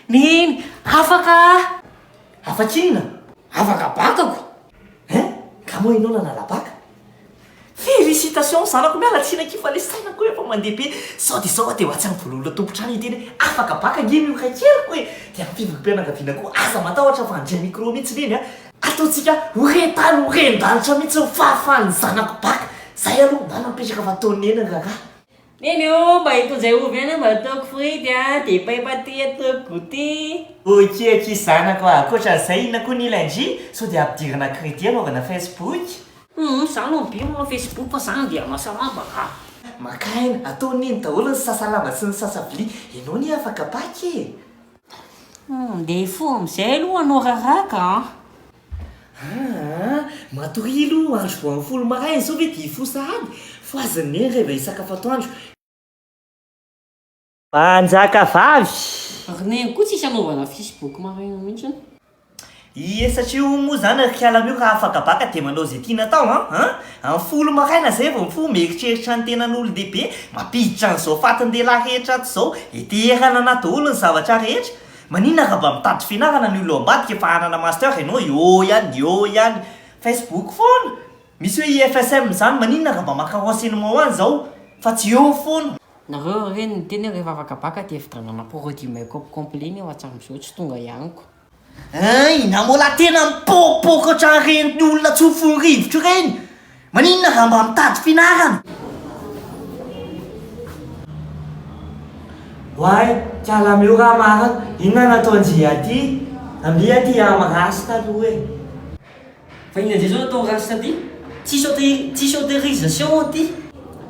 Mihiny! Afaka aho! Afaka inona? Afaka bakako! Hein? Ka moa ianao nanala baka? Félicitations zanako! Miala tsiny akia fa le sainako efa mandeha be! Sao dia sao aho dia ho atsy any voalohan'ilay tompon-trano hiteny hoe afaka baka ange ny ora keriko e! Dia amin'ny fivoriam-pianakaviana koa aza matahotra fa handray micro mihitsy neny a! Ataontsika ho re tany ho ren-danitra mihitsy ny fahafahan'ny zanako baka! Izay aloha na nampetraka fa tao neny ny raharaha! Neny o, mba itondray ovy ihany aho mba ataoko frity a, dia paipa aty ataoko goûter. Ok ok zanako a, ankoatran'izay inona koa ny iln-dry sao dia ampidirina crédit anaovana Facebook? Humm, izaho aloha be manao Facebook fa izany dia mahasalama a! Maka aina, atao neny daholo ny sasa-lamba sy ny sasa-vilia, ianao anie afaka pack e! Humm, dia hifoha amin'izay aloha hanao raraka a! Aa! Matoria aloha andro vao amin'ny folo maraina izao ve dia hifoha sahady? Fohazin'i Neny reva hisakafo atoandro. Mpanjaka vavy! Ry Neny koa tsisy anaovana facebook maraina mihitsy. Ie satria hono moa izany ry kala mio raha afakabaka dia manao izay tiana atao an! an! Amin'ny folo maraina izay vao mifoha mieritreritra ny tenan'olon-dehibe mampiditra an'izao fatin-dehilahy rehetra ato izao, heteherana anaty daholo ny zavatra rehetra. Maninona nga mba mitady fianarana ny olona ao ambadika fa hanana master enao eo ihany eo ihany Facebook foana misy hoe IFSM zany maninona nga mba maka renseignement any zao fa tsy eo foana. Nareo ry reny miteny hoe rehefa afaka baka dia fidrandràna produit make-up complet nefa hatramin'izao tsy tonga eo amiko. Hein! Inona moa lahy tena mipôpôka ohatran'ireny olona tsofin'ny rivotra ireny? Maninona raha mba mitady fianarana? Oay kiala meo raha marina inona nataon-dry aty? Amby aty am race taloha e! Fa inona indray zao nataon'i race taty? Tsisy auto tsisy autorisation aty?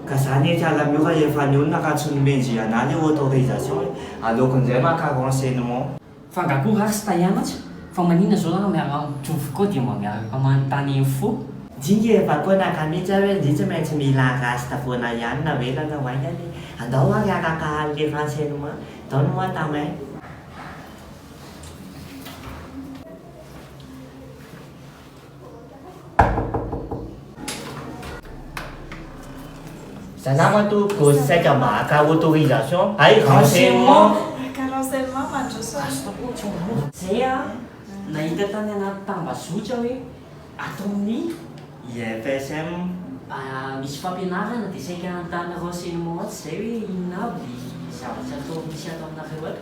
Ka zany e kiala meo rahefa ny olona ka tsy nomendry anah le autorisation e! Aleoko njay maka renseignement. Fa nga ko ratsy tay anatsa? Fa manina zao raha miala amiko jovy ko dia mba miaraka manontany info? Jingy e, fa ko naka mitsy aho hoe ngy tsy maintsy mila rasta foana ihany na ela na ho aingana e! Andao ary araka hal le renseignement, donne moi ta main. Za nama to go saika mba haka autorisation hay renseignement. Haka renseignement mandroso azy. Zay a, nahita tany anaty tambazotra hoe ataon'ny IFSM misy fampianarana dia saika hanontany renseignement atsy izay hoe inona avy ilay zavatra atao misy ataonareo ato.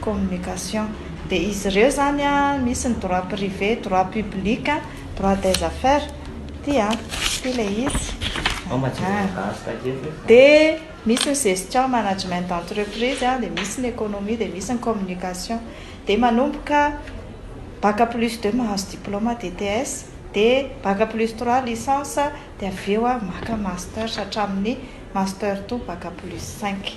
communication dia izy ireo izany an misy ny droit privé, droit public, droit des affaires ity an, ity ilay izy an, dia misy ny gestion management d'entreprise an, dia misy ny économie, dia misy ny communication, dia manomboka bac plus deux mahazo diplôme DTS, dia bac plus trois licence, dia avy eo an maka master hatramin'ny master to bac plus cinq,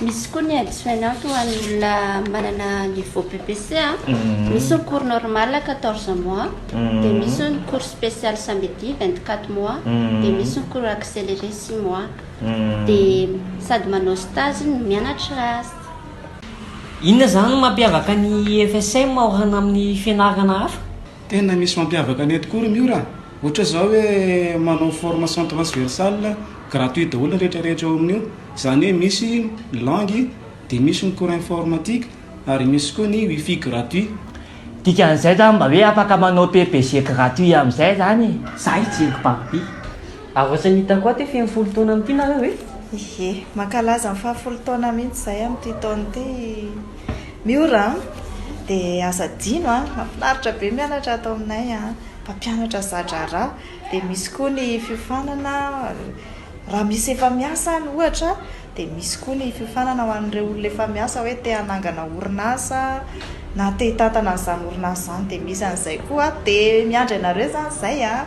Misy koa ny addition out ho an'ny olona manana niveau BPC a. Misy ny cours normal quatorze mois, dia misy ny cours spécial samedi vingt quatre mois, dia misy ny cours accéléré six mois. Dia sady manao stage no mianatra ast. Inona izany no mampiavaka ny FSM ao hana amin'ny fianarana hafa? Tena misy mampiavaka anay tokoa ry Miora a! Ohatra izao hoe manao formation transversale gratuit daholo ny rehetra rehetra ao amin'io, izany hoe misy ny langue, dia misy ny cours informatique ary misy koa ny wifi gratuit. Dikan'izay izany mba hoe afaka manao PPG gratuit amin'izay izany e! Za hijery Barbie. Ary ohatrany hitako aty feno folo taona amin'ity nareo e! Ie, mankalaza ny faha folo taona mihitsy izahay amin'ity taona ity! Miora an! Dia aza adino an! Mafinaritra be mianatra ato aminay an! Mpampianatra za-draharaha, dia misy koa ny fiofanana raha misy efa miasa any ohatra, dia misy koa ny fiofanana ho an'ireo olona efa miasa hoe te hanangana orinasa na te hitantana an'izany orinasa izany dia misy an'izay koa, dia miandry anareo izany izay an!